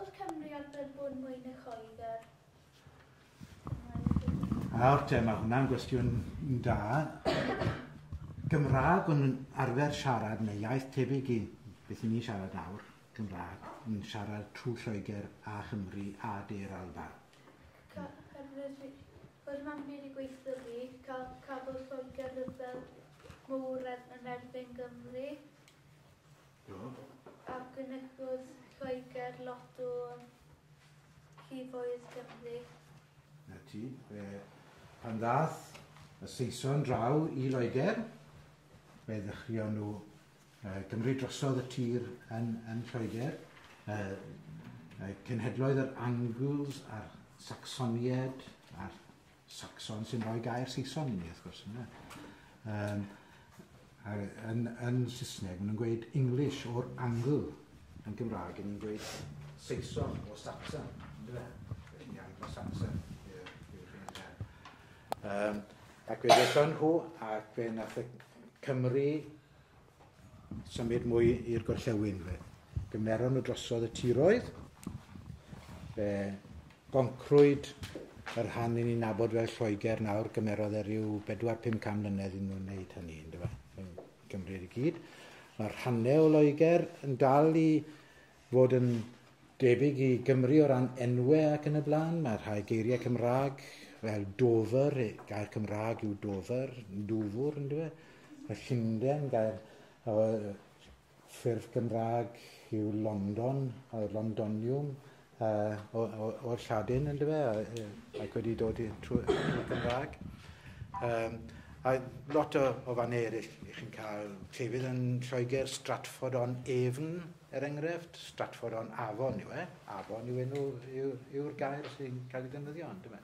O'r Cymry o'r byrbwn mwyn y coedr. Nawr te, mae hwnna'n gwestiwn da. Gymraeg o'n nhw'n arfer siarad neu iaith tebyg i beth i ni'n siarad nawr, Gymraeg, yn siarad trwy Lloegr a Chymru a De'r Alban. Yr mam byd i gweithio fi, cael cafodd Lloegr rhyfel mowr yn erbyn Gymru. Arbenigwyd Lloegr, Lotto Llifogydd Cymru. 'na ti. Fe... Pan ddaeth y Saeson draw i Loegr, fe ddechreuon nhw yy gymryd drosodd y tir yn yn Lloegr. Yy yy cenhedloedd yr Angles a'r Sacsoniaid a'r Saxon sy'n rhoi gair Saeson i ni, wrth gwrs, yna. Um, yn, yn Saesneg, maen nhw'n gweud English o'r Angl, yn Gymraeg, yn ni'n gweud Saeson o Saxon, ynddo fe? Felly Anglo-Saxon yw'r genedlaeth. Um, ac fe ddethon nhw, ac fe nath y Cymru Symud mwy i'r gorllewin fe. Gymneron nhw drosodd y tiroedd. Fe goncrwyd y rhan i ni'n nabod fel Lloegr nawr, gymerodd e ryw 4-500 mlynedd i nhw'n wneud hynny, ynddo fe, yn Cymru i gyd. Mae rhannau o Loegr yn dal i fod yn debyg i Gymru o ran enwau ac yn y blaen. Mae rhai geiriau Cymraeg fel Dover, gair Cymraeg yw Dover, Dwfwr yn dweud. Mae Llundain, gair o ffurf Gymraeg yw London, o Londonium, uh, o'r Lladin yn dweud, ac wedi dod i trwy Gymraeg. Um, a lot o, o fan eraill, chi'n cael llefydd yn Lloegr, Stratford on Avon, Er enghraifft, Stratford-on-Avon yw e, Avon yw enw, yw'r gair sy'n cael ei ddefnyddio, yndyfe?